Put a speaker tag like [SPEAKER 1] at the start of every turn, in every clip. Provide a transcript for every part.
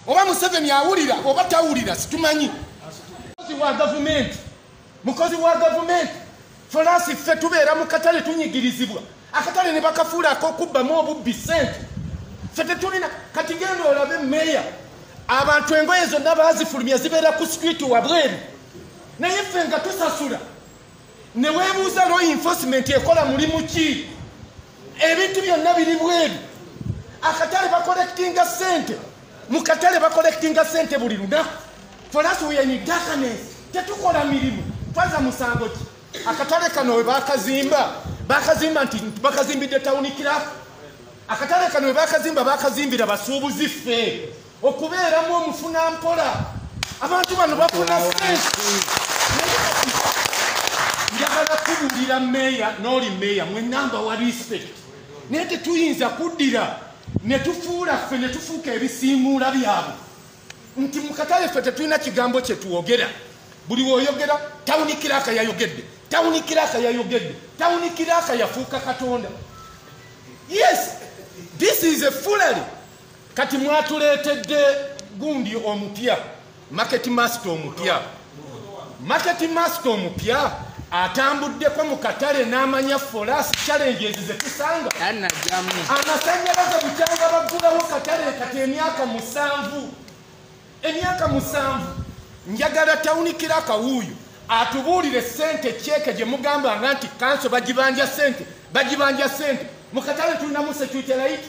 [SPEAKER 1] oba museveni awulira oba tawulira situmanyi mukozi wa gavumenti mukozi wa gavumenti folaasi ffe tubeera mu katale tunyigirizibwa akatale ne bakafuula akokubbamu obubbi sente ffe tetulina kati genda olabe meeya abantu engoye zonna baazifulumya zibeera ku sikwiti wabweru naye ffe nga tusasula newebuuza law enforcement ekola mulimu ki ebintu byonna biri bweru akatale bakolekitinga sente mu katale bakolekitinga sente buli lunaku folasuwenyidakanes tetukola mirimu twaza musango ki akatale kano webakazimba bakazimba nti bakazimbidde tawuni kiraku akatale kano webakazimba bakazimbira basuubuzi ffe okubeeramu omufuna mpola abantu bano bafuna sensi njagala kubuulira meeya n'oli meeya mwenamba wa respect naye tetuyinza kuddira ne tufuula ffe ne tufuuka ebisiimuula byabwe nti mu katale ffe tetulina kigambo kye twogera buli woyogera tawuni kiraaka yayogedde tawuni kiraaka yayogedde tawuni kiraaka yafuuka katonda yes this is a fullery Kati mwatuleetedde gundi omupya market master omupya market master omupya atambuddeko mu katale n'amanya folaasi challenges zetusanga amasanyalaze bukyanga baggulawo katale kati emyaka musanvu emyaka musanvu njagala tawunikira akawuuyo atubuulire sente kyeke gye mugambanga nti kanso bagibanja sente bagibanja sente mu katale tulinamu security layiti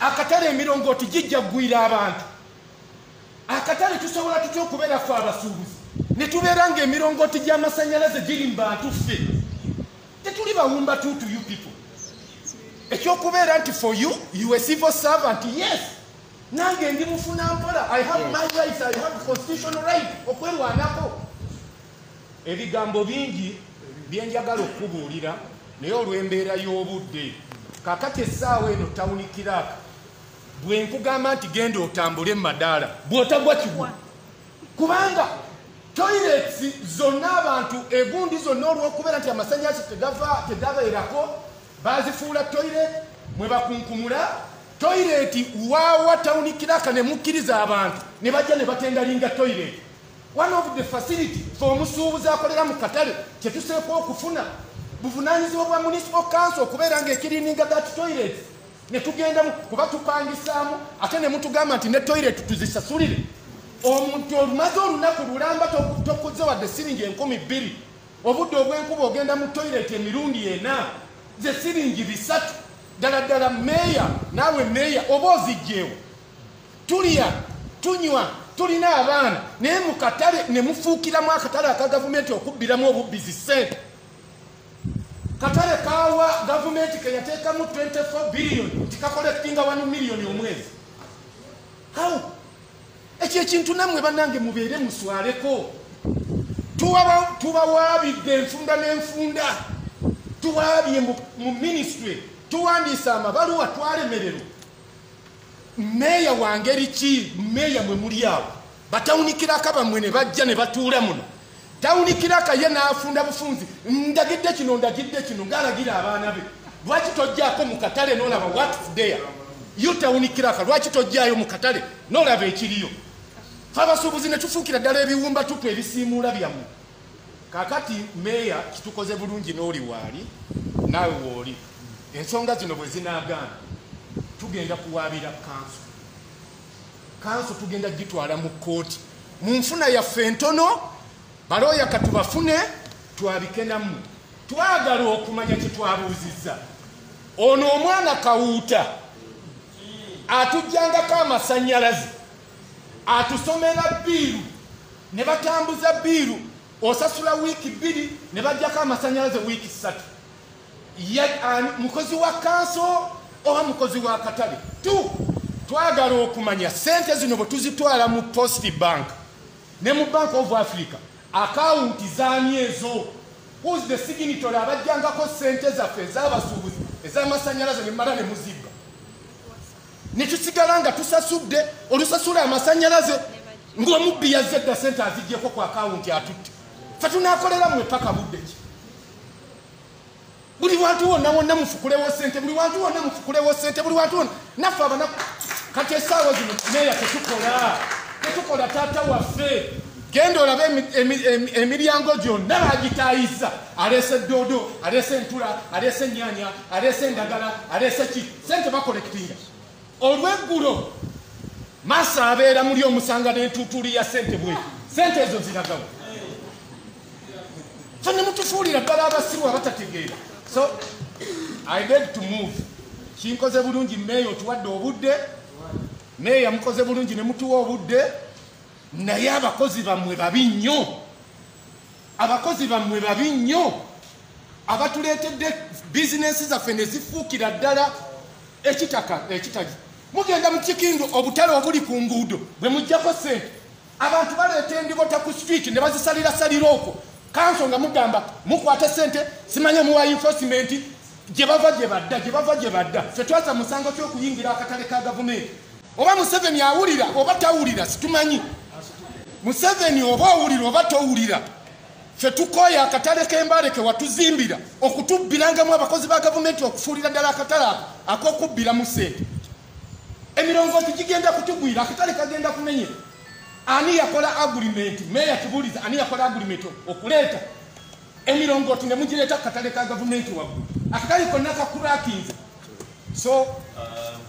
[SPEAKER 1] akatale emirongooti gijja kugwira abantu akatale tusobola tutya okubeera fe abasuubuzi ne tubeera nga emirongooti gy'amasannyalaze giri mu bantu ffe tetuli bawumba tu to you people ekyokubeera nti for you you a civil servant yes nange ndi mufuna mpola i have my rights i have constitutional right okwerwanako ebigambo bingi byenjagala okukubuulira naye olw'embeera y'obudde kakati essaawa eno tawuni kiraaka bwe nkugamba nti genda otambule madaala bw'otagwa kigwa kubanga toilets zonna abantu egundi zonna olw'okubeera nti amasanyalaze tegava tegabeerako bazifuula toilet mwe bakunkumula toilet waawa tawuni kiraaka ne mukkiriza abantu ne bajja ne batendalinga toilet one of the facility fe omusuubuzi akolera mu katale kyetuseeka okufuna buvunanyizibwa bwa municipal council okubeera nga ekirininga that toilet netugendamu kuba tupangisaamu ate nemutugamba nti ne toilet tuzisasulire omuntu olumaze olunaku lulamba tokuze wadde siringi enkumi bbiri obudde obwenkuba ogenda mu toilet emirundi ena ze siringi bisatu ddala ddala meeya naawe meeya oba ozijjeewo tulya tunywa tulina abaana naye mu katale ne mufuukiramu akatale aka gavumenti okubbiramu obubbizi ssente katale kawa gavumenti ke yateekamu 24 biliyoni nti kakolekitinga wanu miliyoni omwezi how ekyo ekintu nammwe bannange mubeere muswaleko tubawaabidde enfunda n'enfunda tuwaabye mu minisitule tuwandiisa amabaluwa twalemererwa meeya wa ngeri ki meeya mwe muli awo batawunikirako bamwe ne bajja ne batuula muno tawunikirako ye n'afunda bufunzi ndagidde kino ndagidde kino ng'alagira abaana be lwaki tojjaako mu katale n'olaba watfdea yo tawunikiraka lwaki tojjaayo mu katale n'olaba ekiriyo fe abasuubuzi ne tufuukira ddala ebiwumbatupu ebisiimuula byammwe kakati meeya kitukoze bulungi n'oli waali naawe wooli ensonga zino bwe zinaagaana tugenda kuwaabira kanso kanso tugenda gitwala mu kkooti mu nfuna yaffe entono balooya katubafune twabike nammwe twagala okumanya kyetwabuuzizza ono omwana kawuuta atujjangako amasanyalaze atusomera biiru ne batambuza biiru osasula wiiki bbiri ne bajjako amasanyalaze wiiki ssatu mukozi wa kanso oba mukozi wa katale t twagala okumanya sente zino bwe tuzitwala mu post bank ne mu bank of africa akawunti zaani ezo whos the signitory abajjangako sente zaffe ezabasuubuzi ezamasanyalaze nemala ne muzibba ne tusigala nga tusasudde olusasula amasanyalaze ng'omubbi yazze dda sente azijjeko ku akawunti atutte fe tunakolera mwe paka budde ki buli wantu wonna wonna mufukulewo sente buli wantu wonna mufukulewo sente buli wantu wonna naffe abana kati esaawa zino meeya tetukola tetukola taata waffe genda olabe emiryango gyonna bagitayiza aleese doodo aleese entula aleese enyanya aleese endagala aleese ki sente bakolekitinga olweggulo maso abeera muli omusanga nentutuuli ya sente bwe sente ezo ziragawo fe nemutufuulira ddala abasiru abatategeera so i beg to move kinkoze bulungi meeya otuwadde obudde meeya mukoze bulungi nemutuwa obudde naye abakozi bammwe babi nnyo abakozi bammwe babi nnyo abatuleetedde bizinensi zaffe ne zifuukira ddala ekitaka ekitagi mugenda mu kikindu obutale obuli ku nguudo bwe mujjako ssente abantu baleeta endibota ku street ne bazisalira salira okwo kanso nga mugamba mukwate ssente simanye muwa enforcement gye bava gye badda gye bava gye badda ffe twasa musango ky'okuyingira akatale ka gavumenti oba museveni awulira oba tawulira situmanyi museveni oba owulira oba towulira fe tukooya akatale k'embale ke watuzimbira okutubbirangamu abakozi ba gavumenti okufuulira ddala akatale ako ak'okubbiramu sente emirongooti gigenda kutugwira akatale kagenda kumenye ani yakola agulimenti meeya kibuuliza ani yakola agulimenti okuleeta emirongooti ne mugireeta ku katale ka gavumenti waggulu akatale konna kakurakinze so um,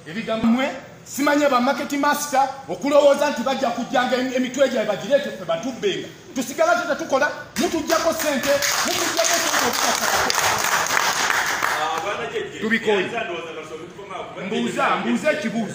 [SPEAKER 1] ebigambo mwe simanya ba market master okulowooza nti bajja kujjanga emitwe gyabwe bagireete ffe batubbenga tusigala teta tukola mutujjako sente mutujjako sente okukasako tubikoye mbuuza mbuuza ekibuuzo